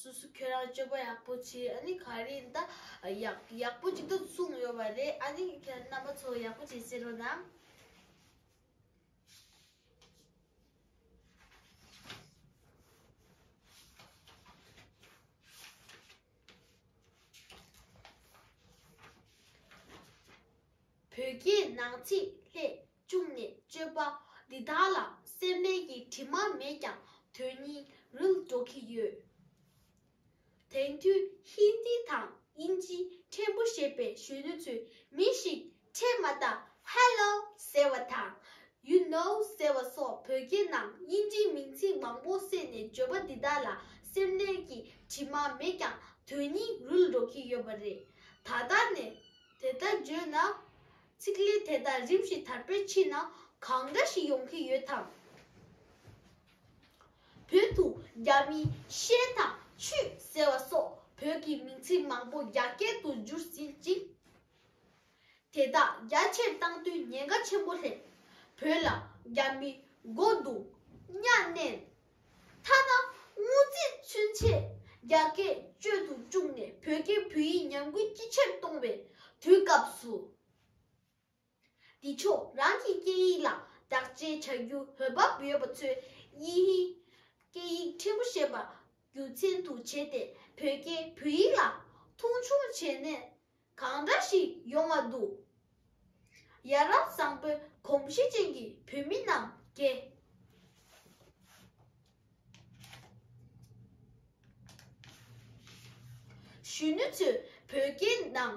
སུ་སུ་ཁྱོད་རང་སྤྱོད་པ་ཡག་པོ་བྱོས་ཨ་ནི་ག་རེ་ཡིན་ད། ཡག་ཡག་པོ་ཅིག་ཏུ་གསུངས་ཡོད་པ་རེད་ཨ་ནི་ཁྱོད་རྣམ་པ་ཚོ་ཡག་པོ་བྱེད་ཟེར་རོ་གནང། བོད་སྐད་ནང་ཚིག་ལྷད། བཅུག་ནས་སྤྱོད་པ་འདི་དག་ལ་སེར་སྣའི་ཡིག་དྲི་མ་མེད་ཀྱང་དོན་སྙིང་རུལ་འགྲོ་གི་ཡོད། དེང་དུས་ཧིན་རྡི་དང་དབྱིན་ཇི་ཕྲན་བུ་ཤེས་པའི་གཞོན་ནུ་ཚོས་མི་ཞིག་འཕྲད་མ་ཐག Hello ཟེར་བ་དང You know ཟེར་བ་སོགས་བོད་སྐད་ནང་དབྱིན་ཇིའི་མིང་ཚིག་མང་པོ་བསྲེས་ནས་བརྗོད་པ་འདི་དག་ལ་སེར་སྣའི་ཡིག་དྲི་མ་མེད་ཀྱང་དོན་སྙིང་རུལ་འགྲོ་གི་ཡོད་པ་རེད། ད་ལྟ་ནས་དེ་ལྟར་བརྗོད་ན་ཚིག་ལས་དེ་དག་རིམ་བཞིན་དར་སྤེལ་ཕྱིན་ན་གང་འདྲ་ཞིག་ཡོང་གི་ཡོད་དམ། བོད་དུ་རྒྱ་མིས་ཤེལ་དང་ཆུ་ཟེར་བ་སོགས་བོད་ཀྱི་མིང་ཚིག་མང་པོ་རྒྱ་སྐད་དུ་བསྒྱུར་ཟིན་ཅིང། དེ་དག་རྒྱ་ཆེར་བཏང་དུས་ཉེན་ཁ་ཆེན་པོ་སླེབས། བོད་ལ་རྒྱ་མིས་སྒོ་རྡུང། གཉའ་གནོན། མཐའ་ན་དངུལ་རྩའི་མཚོན་ཆས་རྒྱ་སྐད་སྤྱོད་དུ་བཅུག་ནས་བོད་སྐད་བོད་ཡིག་ཉམས་རྒུད་ཅི་ཆེར་གཏོང་བའི་དུས་སྐབས་སུ། འདི་ཕྱོགས་རང་གི་སྐད་ཡིག་ལ་དག་བཅས་བྱ་རྒྱུའི་འོས་བབ་ཡོད་པ་ཚོས་དབྱིན་ཧིན་སྐད་ཡིག་ཕྲན་བུ་ཤེས་པ་རྒྱུ་མཚན་དུ་བྱས་ཏེ་བོད་སྐད་བོད་ཡིག་ལ་མཐོང་ཆུང་བྱས་ནས་གང་འདྲ་ཞིག་ཡོང་བ་འདུག། ཡ་རབས་བཟང་པོའི་གོམས་གཤིས་ཅན་གྱི་བོད་མི་རྣམས་ཀྱེ། གཞོན་ནུ་ཚོས་བོད་སྐད་ནང་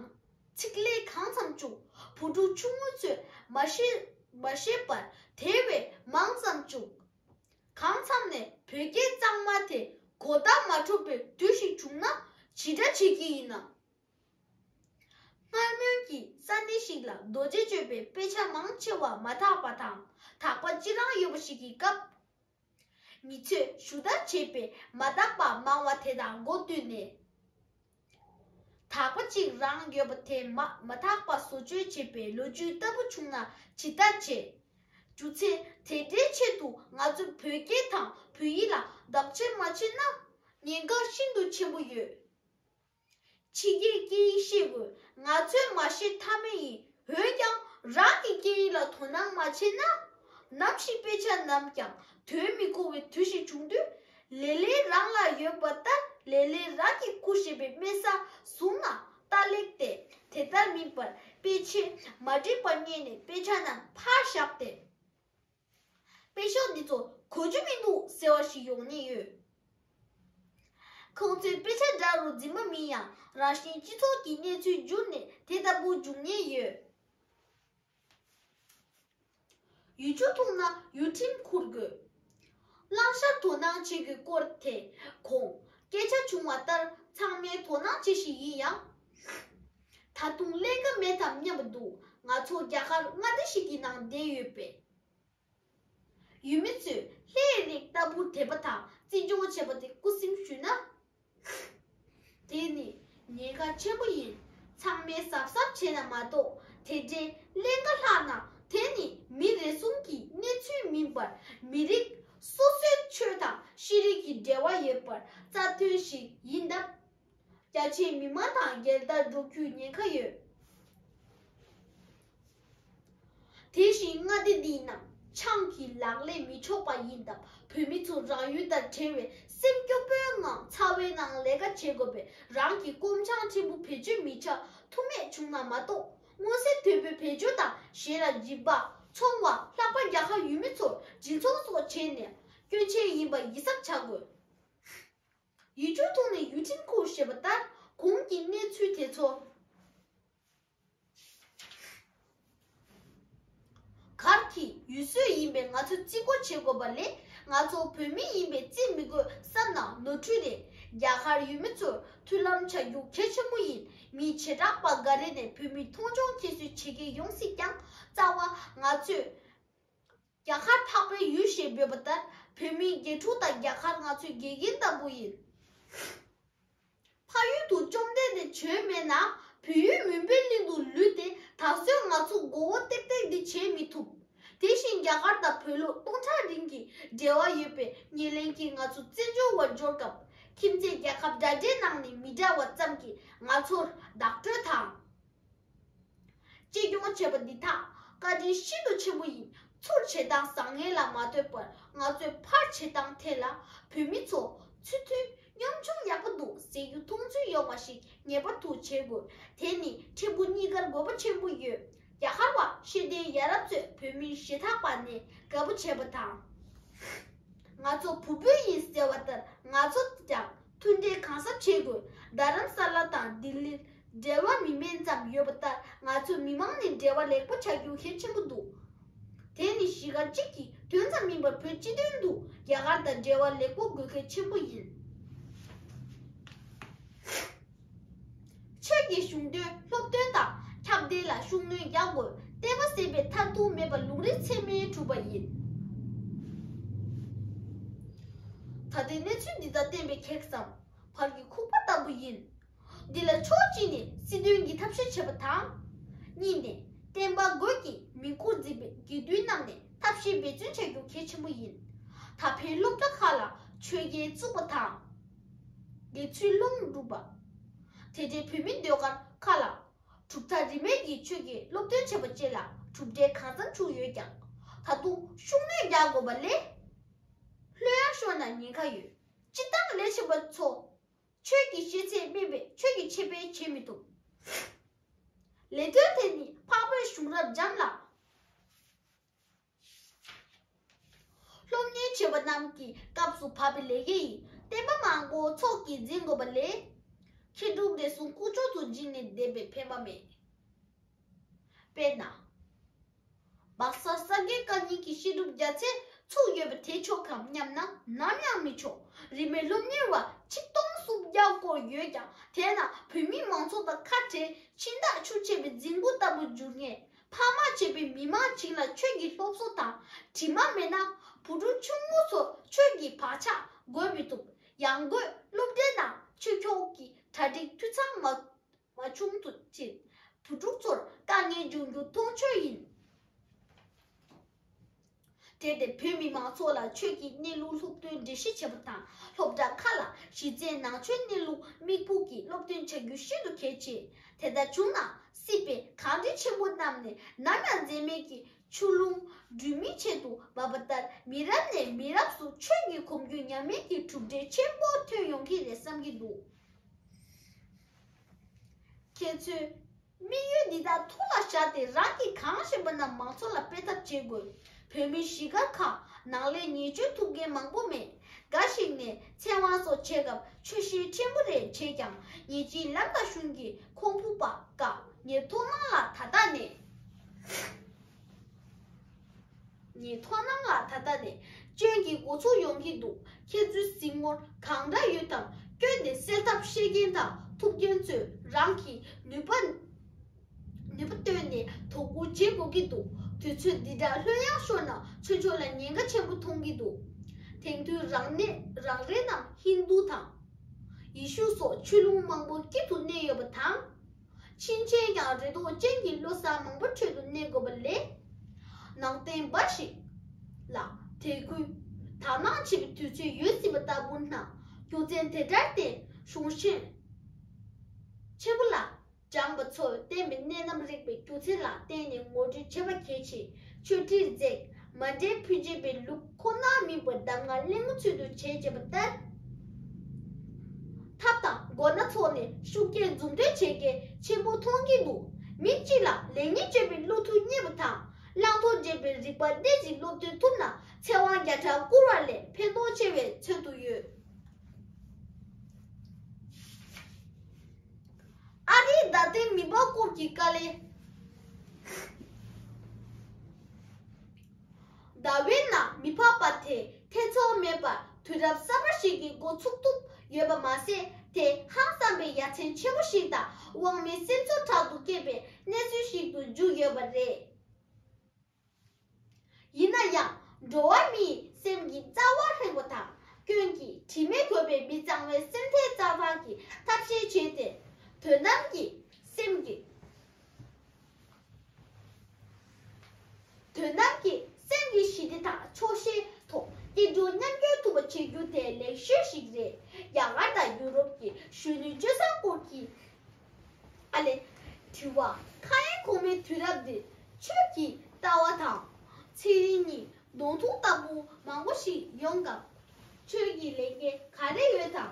ཚིག་ལས་གང་ཙམ་བཅུག་བུ་ཕྲུག་ཆུང་ངུ་ཚོས་མ་ཤེས་པར་དེ་བས་མང་ཙམ་བཅུག། གང་འཚམ་ནས་བོད་སྐད་གཙང་མ་དེ་གོ་བརྡ་མ་འཕྲོད་པའི་དུས་ཤིག་བྱུང་ན་ཇི་འདྲ་བྱེད་ཀྱི་ཡིན་ནམ། སྔར་སྨོན་གྱི་ས་གནས་ཤིག་ལ་རྡོ་རྗེ་གཅོད་པའི་དཔེ་ཆ་མང་ཆེ་བ་མ་དག་པ་དང་དག་པ་ཅི་རང་ཡོད་པ་ཞིག་གི་སྐབས། མི་ཚོས་ཞུ་དག་བྱས་པས་མ་དག་པ་མང་བ་དེ་དང་མགོ་བསྟུན་ནས། དག་པ་ཅིག་རང་ཡོད་པ་དེ་མ་མ་དག་པ་བཟོ་བཅོས་བྱེད་པའི་ལོ་རྒྱུས་ལྟ་བུ་བྱུང་ན་ཇི་ལྟར་བྱེད། རྒྱུ་མཚན་དེ་འདྲའི་ཆེད་དུ་ང་ཚོས་བོད་སྐད་དང་བོད་ཡིག་ལ་བདག་གཅེས་མ་བྱེད་ན་ཉེན་ཁ་ཤིན་ཏུ་ཆེན་པོ་ཡོད། ཕྱི་རྒྱལ་སྐད་ཡིག་ཤེས་དགོས་ང་ཚོས་མ་ཤེས་ཐབས་མེད་ཡིན་འོན་ཀྱང་རང་གི་སྐད་ཡིག་ལ་དོ་སྣང་མ་བྱས་ན། ནམ་ཞིག་དཔེ་ཆ་ནམ་ཀྱང་དོན་མི་གོ་བའི་དུས་ཤིག་བྱུང་དུས། ལེ་ལེ་རང་ལ་ཡོད་པ་ལྟར་ལེ་ལེ་རང་གི་སྐུ་ཞེས་པའི་དམན་ས་བཟུང་ན་ལྟ་ལེགས་ཏེ་དེ་ལྟར་མིན་པར་དཔེ་ཆས་མ་འགྲིག་པ་རྙེད་ནས་དཔེ་ཆ་རྣམས་ཕར་བཞག་སྟེ། དཔེ་ཤོག་འདི་ཚོ་གོ་རྒྱུ་མི་འདུག་ཟེར་བ་ཞིག་ཡོང་ཉེན་ཡོད། ཁོང་ཚོའི་དཔེ་ཆ་འདྲ་རུ་འཛིན་མ་མིན་ཡང་རང་བཞིན་སྤྱི་ཚོགས་ཀྱི་གནས་ཚུལ་བསྒྱུར་ནས་དེ་ལྟ་བུ་འབྱུང་ཉེན་ཡོད། ཡུལ་ཆུ་འཐུང་ན་ཡུལ་ཁྲིམས་འཁུར་དགོས། བླང་བྱར་དོ་སྣང་བྱེད་དགོས་སྐོར་དེ་གོང་སྐད་ཆ་བྱུང་བ་ལྟར་ཚང་མའི་དོ་སྣང་བྱེད་བཞིན་ཡིན་ཡང། ད་དུང་ལས་ཀ་མེད་དམ་སྙམ་པ་འདུག་ང་ཚོ་རྒྱ་གར་མངའ་སྡེ་ཞིག་གི་ནང་བསྡད་ཡོད་པས། ཡུལ་མི་ཚོས་ལྷའི་རིགས་ལྟ་བུར་དད་པ་དང་བརྩི་སྦྱོང་བྱེད་པ་དེ་རྐུ་སེམས་ཞུས་ན། དེ་ནི་ཉེན་ཁ་ཆེན་པོ་ཡིན། ཚང་མས་གཟབ་གཟབ་བྱས་ན་མ་གཏོགས་དེ་འདྲའི་ཀླན་ཀ་ལྷག་ན་དེ་ནི་མི་རེ་ཟུང་གི་གནས་ཚུལ་མིན་པར་མི་རིགས་སོ་སོའི་ཆོས་དང་ཤེས་རིག་གི་འབྲེལ་བ་ཡོད་པར་རྩ་དོན་ཞིག་ཡིན་སྟབས། རྒྱ་ཆེའི་མི་མང་དང་སྒེར་བདག་འགྲོ་རྒྱུའི་ཉེན་ཁ་ཡོད། དེ་བཞིན་མངའ་སྡེ་འདིའི་ནང་ཆང་གི་ལག་ལེན་མི་ཆོག་པ་ཡིན་སྟབས་བོད་མི་ཚོ་རང་ཡུལ་དང་བྲལ་བའི་སེམས་སྐྱོ་པོའི་ངང་ཚ་བའི་ནང་ལས་ཀ་བྱེད་དགོས་པས་རང་གི་སྐོམ་ཆང་ཕྲན་བུ་བེད་སྤྱོད་མི་བྱ་ཐུ་མེད་བྱུང་ན་མ་གཏོགས་མངོན་གསལ་དོད་པོས་བེད་སྤྱོད་དང་གཞན་ལ་སྦྱིན་པ། ཚོང་བ། ལྷག་པར་རྒྱ་གར་ཡུལ་མི་ཚོར་སྦྱིན་ཚོང་སོགས་བྱས་ནས་སྐྱོན་ཆེན་ཡིན་པ་ཡིད་གཟབ་བྱ་དགོས། ཡུལ་ཆུང་ཐོག་ནས་ཡུལ་ཁྲིམས་ཁུར་ཞེས་པ་ལྟར་གོང་གི་གནས་ཚུལ་དེ་ཚོ་གར་གྱི་ཡུལ་སྲོལ་ཡིན་པས་ང་ཚོས་བརྩི་བཀུར་བྱེད་དགོས་པ་ལས་ང་ཚོ་བོད་མི་ཡིན་པས་བརྩི་མི་དགོས་བསམ་ན་ནོར་འཁྲུལ་རེད་རྒྱ་གར་ཡུལ་མི་ཚོར་མཐུན་ལམ་བྱ་རྒྱུ་གལ་ཆེན་པོ་ཡིན་མི་བྱེ་བྲག་པ་འགའ་རེ་ནས་བོད་མི་མཐོང་ཆུང་ཁྱད་གསོད་བྱེད་མཁན་ཡོང་སྲིད་ཀྱང་རྩ་བ་ང་ཚོས། རྒྱ་གར་འཕགས་པའི་ཡུལ་ཞེས་འབོད་པ་ལྟར་བོད་མིའི་དགེ་ཕྲུག་དང་རྒྱ་གར་ང་ཚོའི་དགེ་རྒན་ལྟ་བུ་ཡིན། ཕ་ཡུལ་དུ་བཅོམ་ལྡན་འདས་བྱོན་མེད་ན་བོད་ཡུལ་མུན་པའི་གླིང་དུ་ལུས་ཏེ་ད་གཟོད་ང་ཚོ་མགོ་བོ་བཏེགས་བཏེགས་འདི་བྱེད་མི་ཐུབ། དེ་བཞིན་རྒྱ་གར་དང་བོད་ལུགས་སྟོང་ཕྲག་རིང་གི་འབྲེལ་བ་ཡོད་པའི་ཉེར་ལེན་གྱིས་ང་ཚོ་བཙན་བྱོལ་བར་འབྱོར་སྐབས་ཁྱིམ་མཚེས་རྒྱལ་ཁབ་འདྲ་འདྲའི་ནང་ནས་མི་འདྲ་བ་ཙམ་གྱིས་ང་ཚོར་བདག་སྤྲོད་དང། གཅེས་སྐྱོང་བྱེད་པ་འདི་དག་བཀའ་དྲིན་ཤིན་ཏུ་ཆེན་པོ་ཡིན་ཚུར་བྱེད་སྟངས་བཟང་ངན་ལ་མ་ལྟོས་པར་ང་ཚོས་ཕར་བྱེད་སྟངས་ཐད་ལ་བོད་མི་ཚོ་ཚུལ་མཐུན་གཉོམ་ཆུང་ཡག་པོ་འདུག་ཟེར་རྒྱུ་མཐོང་ཚུལ་ཡོང་བ་ཞིག་ངེས་པར་དུ་བྱེད་དགོས་དེ་ནི་ཕྲན་བུ་གཉིས་ཀར་དགོས་པ་ཆེན་པོ་ཡོད་རྒྱ་གར་བ་ཤེས་ལྡན་ཡ་རབས་ཚོས་བོད་མི་ཞེ་ཐག་པ་ནས་དགའ་པོ་བྱེད་པ་དང། ང་ཚོ་བུ་སྤུན་ཡིན་ཟེར་བ་ལྟར་ང་ཚོ་ཀྱང་མཐུན་འབྲེལ་གང་ཟབ་བྱེད་དགོས། རྡ་རམ་ས་ལ་དང་ལྡི་ལིར་འབྲེལ་བ་མི་དམན་ཙམ་ཡོད་པ་ལྟར་ང་ཚོའི་མི་མང་ནས་འབྲེལ་བ་ལེགས་པོ་བྱ་རྒྱུ་གལ་ཆེན་པོ་འདུག་དེ་ནི་གཞིས་སྒར་གཅིག་གི་དོན་ཙམ་མིན་པར་བོད་སྤྱི་དོན་དུ་རྒྱ་གར་དང་འབྲེལ་བ་ལེགས་པོ་དགོས་གལ་ཆེན་པོ་ཡིན། ཆེད་ཀྱི་གཞུང་དོན་སློབ་སྟོན་དང་ཁྱབ་གདལ་ལ་ཤུགས་སྣོན་རྒྱག་དགོས་བལྟས་པ་ཟད་པའི་མཐར་ཐུག་མེད་པ་ལུང་རིགས་ཚད་མས་གྲུབ་པ་ཡིན། ད་ལྟའི་གནས་ཚུལ་འདི་དག་བསྟན་པའི་ཁེགས་སམ་བར་གྱི་ཁུག་པ་ལྟ་བུ་ཡིན། འདི་ལ་ཕྱོགས་གཅིག་ནས་སྲིད་དོན་གྱི་ཐབས་ཤེས་བྱེད་པ་དང། གཉིས་ནས་བསྟན་པ་རྒོད་ཀྱིས་མིང་སྐོར་འཛིན་པའི་དགེ་འདུན་རྣམས་ནས་ཐབས་ཤེས་འབད་བརྩོན་བྱ་རྒྱུ་གལ་ཆེན་པོ་ཡིན། ད་ཕན་སློབ་གྲྭ་ཁག་ལ་ཆོས་རྒྱལ་བཙུགས་པ་དང། དགེ་ཚུལ་སློང་བསྒྲུབ་པ། དེ་འབྲེལ་བོད་མིའི་ཟློས་གར་ཁག་ལ་གྲུབ་མཐའ་རིས་མེད་ཀྱི་ཆོས་ཀྱི་སློབ་སྟོན་བྱས་པ་བཅས་ལ་གྲུབ་འབྲས་གང་ཙམ་བྱུང་ཡོད་ཀྱང་ད་དུང་ཤུགས་སྣོན་རྒྱག་དགོས་པ་ལས། ལྷོད་ཡར་ཤོར་ན་ཉེན་ཁ་ཡོད། སྤྱི་བཏང་ལས་བྱེད་པ་ཚོ་ཆོས་ཀྱི་ཤེས་ཚད་སྨིན་པའི་ཆོས་ཀྱི་འཆད་སྤེལ་བྱེད་མི་ཐུབ། ལས་དོན་དེ་ནི་འཕགས་བོད་གཞུང་རབ་འབྱམས་ལ། སློབ་གཉེར་བྱེད་པ་རྣམས་ཀྱི་སྐབས་སུ་བབ་པའི་ལས་ཀྱི་བསྟན་པ་མང་པོ་ཚོགས་ཀྱིས་འཛིན་དགོས་པ་ལས། ཁྱེད་དྲུག་འདས་སོང་སྐུ་ཅོག་ཙུ་འཇིགས་ནས་བསྡད་པའི་ཕན་པ་མེད། དཔེར་ན། སྦག་ས་ས་དགེ་བཀའ་རྙིང་གི་བཤད་སྒྲུབ་རྒྱ་ཚད་ཚུགས་ཡོད་པ་དེ་ཆོག་གམ་སྙམ་ན་ནམ་ཡང་མི་ཆོག་རིས་མེད་སློབ་གཉེར་བ་ཆིག་སྟོང་སུམ་བརྒྱ་སྐོར་ཡོད་ཀྱང་དེས་ན་བོད་མི་མང་ཚོགས་དང་ཁ་བྲལ་ཕྱིན་བདག་ཆུ་ཆད་པའི་རྫིང་བུ་ལྟ་བུར་འགྱུར་ངེས། ཕ་མ་བཅས་པའི་མི་མང་ཞིག་ལ་ཆོས་ཀྱི་སློབ་གསོ་དང་དྲི་མ་མེད་ན་བུ་ཕྲུག་ཆུང་ངུ་ཚོ་ཆོས་ཀྱི་བག་ཆགས་རྒོད་མི་ཐུབ། ཡང་སྒོས་སློབ་གྲྭའི་ནང་ཆོས་ཕྱོགས་ཀྱི་གྲ་སྒྲིག་འཐུས་ཚང་མ་མ་བྱུང་ཕྱིན། བུ་ཕྲུག་ཚོར་དཀའ་ངལ་འབྱུང་རྒྱུ་མཐོང་ཆོས་ཡིན། སྤྲད་དེ་བོད་མི་མང་ཚོགས་ལ་ཆོས་ཀྱི་གནས་ལུགས་སློབ་སྟོན་འགྲེལ་བཤད་བྱེད་པ་དང་སློབ་གྲྭ་ཁག་ལ་གཞི་རྩའི་ནང་ཆོས་གནས་ལུགས་དམིགས་བུ་གྱིས་སློབ་སྟོན་བྱ་རྒྱུ་ཤིན་ཏུ་གལ་ཆེ། དེ་ལྟར་བྱུང་ན་སྲིད་པའི་གངས་རི་ཆེན་པོ་རྣམས་ནས་ནམ་ཡང་འཛད་མེད་ཀྱི་ཆུ་ཀླུང་སྦྲུལ་མིག་ཆེད་དུ་འབབ་པ་ལྟར་མི་རབས་ནས་མི་རབས་སུ་ཆོས་ཀྱི་གོམས་རྒྱུད་ཉམས་མེད་ཀྱི་གྲུབ་འབྲས་ཆེན་པོ་ཐོན་ཡོང་གི་རེད་བསམ་གྱི་འདུག་ཁྱེད་ཚོས། དམིགས་ཡུལ་འདི་དག་ཐུགས་ལ་བཞག་སྟེ་རང་གིས་གང་བཞིན་པ་རྣམས་མང་ཚོགས་ལ་སྤེལ་ཐབས་བྱེད་དགོས། བོད་མི་གཞིས་སྒར་ཁག་ནང་ལས་ཉེས་སྐྱོན་ཐུབ་མཁན་མང་པོ་མེད། འགའ་ཞིག་ནས་ཚེ་དབང་སོགས་བྱེད་སྐབས་ཆོས་ཤེས་ཆེན་པོ་རེ་བྱས་ཀྱང་ཉེས་ཅན་ལམ་དང་གཞུང་གི་ཁོང་ཕུག་པ་དཀའ། ཉེར་ཐོག་མང་ལ་ད་ལྟ་ནས། ཉིས་ཐོག་ནང་ལ་ད་ལྟ་ནས་སྐྱོན་གྱི་མགོ་ཚུགས་ཡོང་གི་འདུག་ཁྱེད་ཚོའི་སྲིང་མོར་གང་འདྲ་ཡོད་དམ་སྐྱོན་དེ་སེལ་ཐབས་ཤེས་མཁན་དང་ཐུབ་མཁན་ཚོས་རང་གི་ནུས་པ་ནུས་པ་བཏོན་ནས་དོ་ཁུར་བྱེད་དགོས་ཀྱི་འདུག་དུས་ཚོད་འདི་འདྲ་ལྷོད་ཡངས་ཤོར་ན་ཆོས་ཕྱོགས་ལ་ཉེན་ཁ་ཆེན་པོ་མཐོང་གི་འདུག་དེང་དུས་རང་གནས་རང་རེད་ནམ་ཧིན་རྡུ་དང་ཡི་ཤུ་སོགས་ཆོས་ལུང་མང་པོ་དཀྱིལ་དུ་གནས་ཡོད་པ་དང། ཕྱིན་ཆད་ཡང་རེ་དོགས་ཅན་གྱི་བློ་བཟང་མང་པོ་ཁྲོད་དུ་གནས་དགོས་པ་ལས། ནང་བསྟན་འབའ་ཞིག་ལ་དད་གུས་དག་སྣང་བྱེད་པའི་དུས་ཚོད་ཡོལ་ཟིན་པ་ལྟ་བུ་ན་རྒྱུ་མཚན་དེ་འདྲར་བརྟེན་གཞུང་གཞན་ཆེན་པོ་ལ་སྦྱངས་པ་ཚོས་བསྟན་པའི་གནད་རྣམ་རིག་པའི་སྒྱུ་རྩལ་ལ་བརྟེན་ནས་ངོ་སྤྲོད་བྱེད་པ་གལ་ཆེ་ཆོས་ཁྲིར་འཛེགས་མ་འདྲེས་ཕུད་བྱེད་པའི་ལུགས་ཁོ་ནར་དམིགས་པར་གདམས་ངག་གླེང་མོ་ཚུལ་དུ་བྱེད་ཅེས་པ་ལྟར། ཐབས་དང་སྒོ་སྣ་ཚོགས་ནས་ཤུགས་རྐྱེན་འཛུགས་འདོད་བྱེད་མཁན་ཆེན་པོ་མཐོང་གིན་འདུག་མི་གཅིག་ལ་ལེགས་ཉེས་དཔྱོད་པའི་བློ་ཐུགས་རྙེད་པ་དང་བླང་དོར་འབྱེད་པའི་རིག་པ་འདི་བཞིན་སློབ་སྟོན་ཐུབ་ན་ཚེ་དབང་བརྒྱ་ཕྲག་བསྐུར་བ་ལས་ཕན་ཐོགས་ཆེ་བའི་ཚོད་དུ་ཡོད། ཨ་རིའི་རྡ་སྟེང་མི་འབག་སྐོར་གྱི་དཀའ་ལས། རྡ་བའི་ནང་མི་འཕགས་པ་དེ་ཐེ་ཚོམ་མེད་པར་དུས་རབས་གསར་པ་ཞིག་གི་འགོ་ཚུགས་ཐུབ་ཡོད་པ་མ་ཟད་དེ་ཧང་བསམ་པའི་ཡ་མཚན་ཆེན་པོ་ཞིག་དང་དབང་མེད་སེམས་ཚོར་དྲག་ཏུ་སྐྱེས་པའི་གནས་ཚུལ་ཞིག་ཏུ་འཇུག་ཡོད་པ་རེད། ཡིན་ན་ཡང་འགྲོ་བ་མིའི་སེམས་ཀྱི་རྩ་བ་ལྷེན་པོ་དང་སྐྱོན་གྱི་དྲི་མས་གོས་པའི་མི་གཙང་བའི་སེམས་ཐལ་རྩ་བར་གྱི་ཐབས་ཤེས་བྱས་ཏེ། དོན་དམ་གྱི་སེམས་ཀྱི། དོན་དམ་གྱི་སེམས་ཀྱི་ཞི་བདེ་དང་ཆོག་ཤེས་ཐོག་སྐྱིད་སྡུག་མཉམ་སྐྱོང་ཐུབ་པ་བྱེད་རྒྱུ་དེ་ལེགས་ཤོས་ཤིག་རེད། རྒྱ་གར་དང་ཡུ་རོབ་ཀྱི་གཞོན་ནུའི་སྤྱོད་བཟང་སྐོར་གྱི། ཨ་ལས། དྲི་བ། ཁ་ཡན་གོང་མའི་དུས་རབས་འདིར་ཁྱོད་ཀྱི་ལྟ་བ་དང། ཚེ་རིང་གཉིས་གདོང་ཐུག་ལྟ་བུ་མང་པོ་ཞིག་ཡོང་སྐབས། ཁྱོད་ཀྱི་ལས་འགན་ག་རེ་ཡོད་དམ།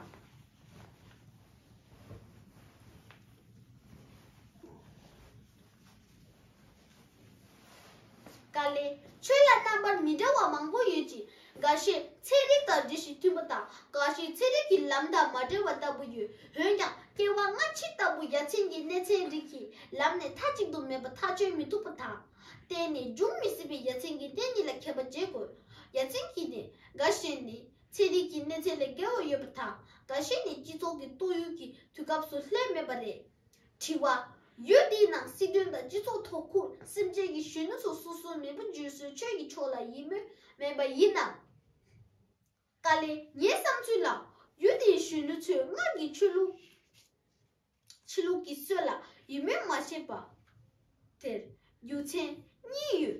ཀཱ་ལི། ཆོས་ལ་རྣམ་པར་མི་འདྲ་བ་མང་པོ་ཡོད་ཅིང་འགའ་ཤས་ཚན་རིག་དང་འདྲིས་ཤིང་མཐུན་པ་དང་འགའ་ཤས་ཚན་རིག་གི་ལམ་དང་མ་འབྲེལ་བ་ལྟ་བུ་ཡོད། འོན་ཀྱང་སྐྱེ་བ་སྔ་ཕྱི་ལྟ་བུ་ཡ་མཚན་གྱི་གནས་ཚན་རིག་གི་ལམ་ནས་མཐའ་གཅིག་ཏུ་མེད་པ་ཐག་གཅོད་མི་ཐུབ་པ་དང། གཏན་ནས་འབྱུང་མི་སྲིད་པའི་ཡ་མཚན་གྱི་གནས་གཉིས་ལ་ཁྱབ་པ་བརྗེ་དགོས། ཡ་མཚན་གྱི་གནས་འགའ་ཤས་ནི་ཚན་རིག་གི་གནས་ཚད་ལས་བརྒལ་བ་ཡོད་པ་དང་འགའ་ཤས་ནི་སྤྱི་ཚོགས་ཀྱི་སྟོད་ཡུལ་གྱི་དུས་སྐབས་སུ་ལྷད་མེད་པ་རེད། དྲི་བ། ཡུལ་དེའི་ནང་སྲིད་དོན་དང་སྤྱི་ཚོགས་ཐོག་ཁུ་སིམ་ཅན་གྱི་གཞོན་ནུ་ཚོ་སོ་སོའི་མེས་པོ་བརྗོད་སྲོལ་ཆོས་ཀྱི་ཕྱོགས་ལ་ཡིད་སྨོན་མེད་པ་ཡིན་ནམ། ཀ་ལེ། ངའི་བསམ་ཚུལ་ལ། ཡུལ་དེའི་གཞོན་ནུ་ཚོས་སྔར་གྱི་ཆོས་ལུགས། ཕྱི་ལུགས་ཀྱི་སྲོལ་ལ་ཡིད་སྨོན་མ་བྱེད་པ། དེར་རྒྱུ་མཚན་གཉིས་ཡོད།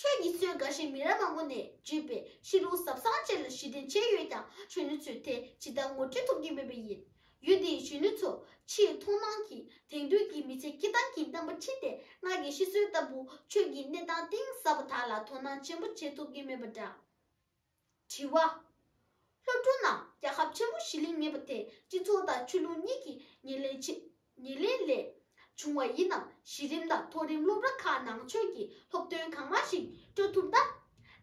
ཆོས་ཉིད་སྲོལ་འགའ་ཞིག་མི་རབས་མང་པོ་ནས་བརྒྱུད་པའི་གཤིས་ལུགས་ཟབ་གསང་བཅས་ལ་གཞི་རྟེན་བྱས་ཡོད་ཀྱང་གཞོན་ནུ་ཚོས་དེ་ཇི་ལྟར་ངོ་སྤྲོད་ཐུབ་ཀྱི་མེད་པས་ཡིན། ཡུལ་འདིའི་གཞོན་ནུ་ཚོ་ཕྱིའི་མཐོང་སྣང་གིས་དེང་དུས་ཀྱི་མི་ཚེ་སྐྱིད་ཐང་གི་རྣམ་པ་འཁྲིད་དེ་སྔར་གྱི་གཤིས་སྲོལ་ལྟ་བུ་ཆོས་ཀྱི་གནས་སྟངས་གཏིང་ཟབ་པ་དག་ལ་དོ་སྣང་ཆེན་པོ་བྱེད་ཐུབ་ཀྱི་མེད་པ་འདྲ། དྲི་བ། སློབ་ཕྲུག་རྣམས་རྒྱལ་ཁབ་ཆེན་པོ་ཞི་ལིང་མེད་པ་དེ་སྤྱི་ཚོགས་དང་ཆོས་ལུགས་གཉིས་ཀྱི་ཉེར་ལེན་ཆེད་ཉེར་ལེན་ལས་བྱུང་བ་ཡིན་ནམ་གཞི་རིམ་དང་མཐོ་རིམ་སློབ་ར་ཁག་ནང་ཆོས་ཀྱི་སློབ་སྟོན་གང་མང་ཞིག་སྤྲོད་ཐུབ་ན།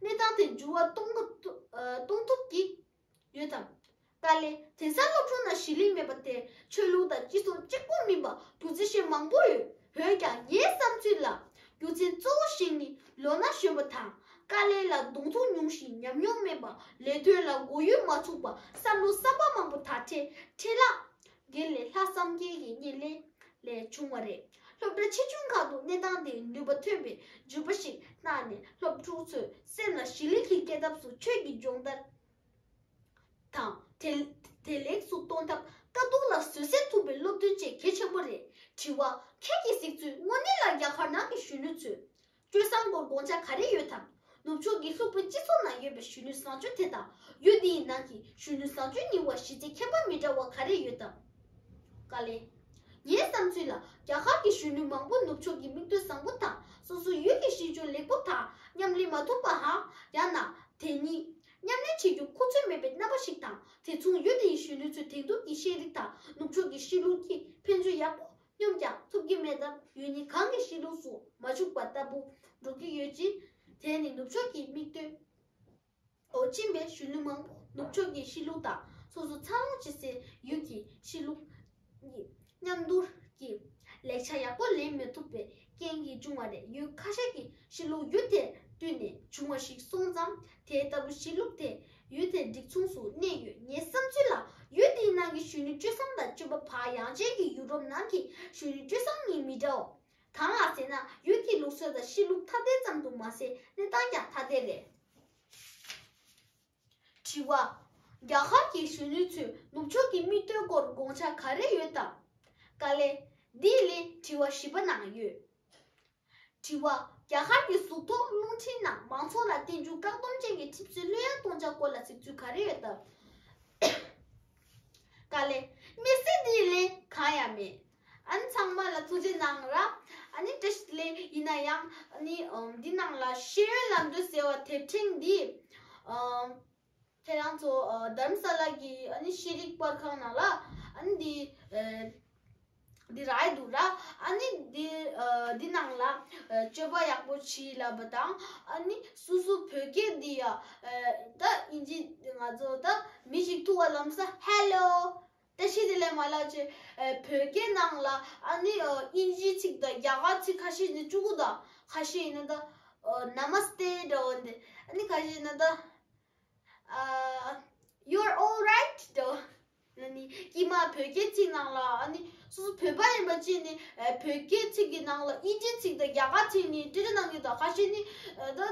གནས་སྟངས་དེ་འགྱུར་བ་གཏོང་ཐུབ་ཀྱི་ཡོད་དམ། ཏཱ་ལའི་དེང་སང་སློབ་ཆུང་ནང་ཞི་ལིག་མེད་པ་དེ་ཆོས་ལུགས་དང་སྤྱི་ཚོགས་གཅིག་པོ་མིན་པ་བུ་རྫི་ཞེན་མང་པོ་ཡོད་འོན་ཀྱང་ངའི་བསམ་ཚུལ་ལ། རྒྱུ་མཚན་གཙོ་བོ་ཞིག་ནི་ལོ་ན་གཞོན་པ་དང་དཀའ་ལས་ལ་གདོང་ཐུག་མྱོང་ཞིང་ཉམས་མྱོང་དམན་པ་ལས་དོན་ལ་མགོ་ཡུ་མ་ཚུགས་པ་བསམ་བློ་བསམ་པ་མང་པོ་དག་ཁྲེ་ཁྲེ་ལག་འགེལ་ལས་ལྷག་བསམ་རྒྱལ་གྱི་བརྙན་ལེན་ལས་བྱུང་བ་རེད། སློབ་གྲྭ་ཆེ་ཆུང་ཁག་ཏུ་གནས་སྟངས་དེའི་ནུས་པ་ཐོན་པའི་བརྗོད་པ་ཞིག་གནང་ནས་སློབ་ཕྲུག་ཚོའི་སེམས་ལ་ཞི་ལིག་གི་སྐྱེ་ཐབས་སུ་ཆོས་ཀྱི་སྦྱོང་བརྡར། དང། བདེ་ལེགས་སུ་གཏོང་ཐབས་དཀའ་སྡུག་ལ་བཟོད་བསྲན་ཐུབ་པའི་སློབ་སྟོན་བཅས་གལ་ཆེན་པོ་རེད། དྲི་བ། ཁྱེད་ཀྱིས་གཟིགས་ཚུལ་དངོས་གནས་ལ་རྒྱ་གར་ནང་གི་གཞོན་ནུ་ཚོས། སྤྱོད་བཟང་སྐོར་དགོངས་འཆར་ག་རེ་ཡོད་དམ། ནུབ་ཕྱོགས་ཀྱི་ལྷུག་པོའི་སྤྱི་ཚོགས་ནང་ཡོད་པའི་གཞོན་ནུའི་བཟང་སྤྱོད་དེ་དང་ཡུལ་འདི་ཡི་ནང་གི་གཞོན་ནུའི་བཟང་སྤྱོད་གཉིས་བར་གཞི་རྩའི་ཁྱད་པར་མི་འདྲ་བ་ག་རེ་ཡོད་དམ། དཀའ་ལས། ངའི་བསམ་ཚུལ་ལ་རྒྱ་གར་གྱི་གཞོན་ནུ་མང་པོ་ནུབ་ཕྱོགས་ཀྱི་མིག་ལྟོས་བཟང་པོ་དང་སོ་སོའི་ཡུལ་གྱི་གཤིས་སྤྱོད་ལེགས་པོ་དང་ཉམས་ལེན་མ་ཐུབ་པ། ཡང་ན། དེ་གཉིས། ཉམས་ལེན་བྱེད་རྒྱུར་ཁུ་ཚུར་མེད་པའི་རྣམ་པ་ཞིག་དང་དེ་མཚུངས་ཡུལ་དེ་ཡི་གཞོན་ནུའི་ཚོའི་དེང་དུས་ཀྱི་ཤེས་རིག་དང་ནུབ་ཕྱོགས་ཀྱི་གཤིས་ལུགས་ཀྱིས་ཕན་ཚུན་ཡག་པོ་སྙོམས་ཀྱང་ཐུབ་ཀྱི་མེད་སྟབས་ཡུལ་ནི་གང་གི་གཤིས་ལུགས་སུ་མ་བཅུག་པ་ལྟ་བུ་འགྲོ་གི་ཡོད་ཅིང། དེས་ནི་ནུབ་ཕྱོགས་ཀྱི་མིག་ལྟོས་འོག་ཕྱིན་པའི་གཞོན་ནུ་མང་པོ་ནུབ་ཕྱོགས་ཀྱི་གཤིས་ལུགས་དང་སོ་སོ་འཚར་ལོངས་བྱེད་སའི་ཡུལ་གྱི་གཤིས་ལུགས། མཉམ་དུ་ཀྱི་ལེགས་ཆ་ཡག་པོ་ལེན་མི་ཐུབ་པའི་རྐྱེན་གྱིས་བྱུང་བ་རེད་ཡུལ་ཁ་ཤས་ཀྱི་གཞིས་ལུས་ཡུལ་དེར་བསྟུན་ནས་བྱུང་བ་ཞིག་སོང་ཙང་དེ་ལྟ་བུ་གཞིས་ལུགས་དེ་ཡུལ་དེར་སྒྲིག་མཚུངས་སུ་གནས་ཡོད་ངའི་བསམ་ཚུལ་ལ་ཡུལ་དེའི་ནང་གི་གཞོན་ནུ་བཅུ་གསུམ་དང་བཅུ་པ་བར་ཡང་གཅིག་གི་ཡུ་རོབ་ནང་གི་གཞོན་ནུ་བཅུ་གསུམ་གཉིས་མི་འདྲའོ། གང་ལགས་ཟེར་ན་ཡུལ་གྱི་ལུགས་སྲོལ་དང་གཞིས་ལུགས་ཐ་དད་ཙམ་དུ་མ་ཟད་གནས་སྟངས་ཀྱང་ཐ་དད་རེད། དྲི་བ། རྒྱ་གར་གྱི་གཞོན་ནུ་ཚོས་ནུབ་ཕྱོགས་ཀྱི་དམིགས་དོན་སྐོར་དགོངས་འཆར་ག་རེ་ཡོད་དམ། དཀའ་ལས། འདི་ལས་དྲི་བ་བཞི་པ་ནང་ཡོད། དྲི་བ། རྒྱ་གར་གྱི་གཟུགས་ཐོག་རླུང་འཕྲིན་ནང་མང་ཚོགས་ལ་བསྟན་འགྱུར་བཀག་སྡོམ་ཅན་གྱི་ཁྲིམས་སྲོལ་ལྷོད་ཡངས་གཏོང་འཆར་སྐོར་ལ་གཟིགས་ཚུལ་ག་རེ་ཡོད་དམ། དཀའ་ལས། མི་སྲིད་འདི་ལས་གང་ཡང་མེད། ཨ་ནི་ཚང་མ་ལ་ཐུགས་རྗེ་གནང་ར། ཨ་ནི་བཀྲ་ཤིས་ལེ་ཡིན་ན་ཡང། ཨ་ནི་འདི་ནང་ལ་ཤེས་ཡོན་ལམ་སྟོན་ཟེར་བ་དེབ་ཕྲེང་འདི། ཁྱེད་རང་ཚོ་དརམ་ས་ལ་གི་ཨ་ནི་ཤེས་རིག་པར་ཁང་ནང་ལ་ཨ་ནི་འདི། འདི་ར་ཡི་འདུག་ར། ཨ་ནི་འདི་འདི་ནང་ལ་སྤྱོད་པ་ཡག་པོ་བྱིས་ལབ་པ་དང། ཨ་ནི་སུ་སུ་བོད་སྐད་འདི་ཡ། ད་ཨིན་ཇི་ང་ཚོ་ད་མི་ཞིག་ཐུག་བ་ལམ་ས་ཧེ་ལོ། ད་ཤི་དེ་ལས་མ་ལགས་ཀྱི་བོད་སྐད་ནང་ལ་ཨ་ནི་དབྱིན་ཇི་ཚིག་དང་རྒྱ་གར་ཚིག་ཁ་ཤས་ནི་སྤྲུ་གུ་དང་ཁ་ཤས་ཡིན་ན་ད Namaste འདྲ་བོ་འདི་ཨ་ནི་ཁ་ཤས་ཡིན་ན་ད You're all right འདྲ་བོ་ཨ་ནི་ཀྱེ་མ་བོད་སྐད་ཚིག་ནང་ལ་ཨ་ནི་སོ་སོ་བོད་པ་ཡིན་པ་གཅིག་ནི་བོད་སྐད་ཚིག་གི་ནང་ལ་དབྱིན་ཇི་ཚིག་དང་རྒྱ་གར་ཚིག་ནི་འདྲི་འདྲི་གནང་གི་དང་ཁ་ཤས་ནི་ད།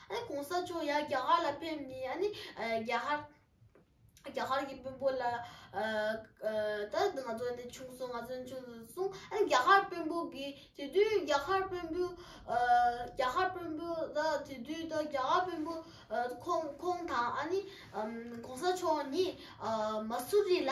ཨ་གོང་ས་མཆོག་ཡ་རྒྱ་གར་ལ་ཕེབས་ནས་ཨ་ནི་རྒྱ་ཧར་རྒྱ་གར་གི་དཔོན་པོ་ལ་ད་ང་ཚོ་འདི་ཆུང་སོང་ང་ཚོ་ཆུང་སོང་གསུངས་ཨ་ནི་རྒྱ་གར་དཔོན་པོ་གིས་དེ་དུས་རྒྱ་གར་དཔོན་པོས་རྒྱ་གར་དཔོན་པོ་ད་དེ་དུས་ད་རྒྱ་གར་དཔོན་པོ་ཁོང་ཁོང་དང་ཨ་ནི་གོང་ས་མཆོག་ནི་མ་སུ་རི་ལ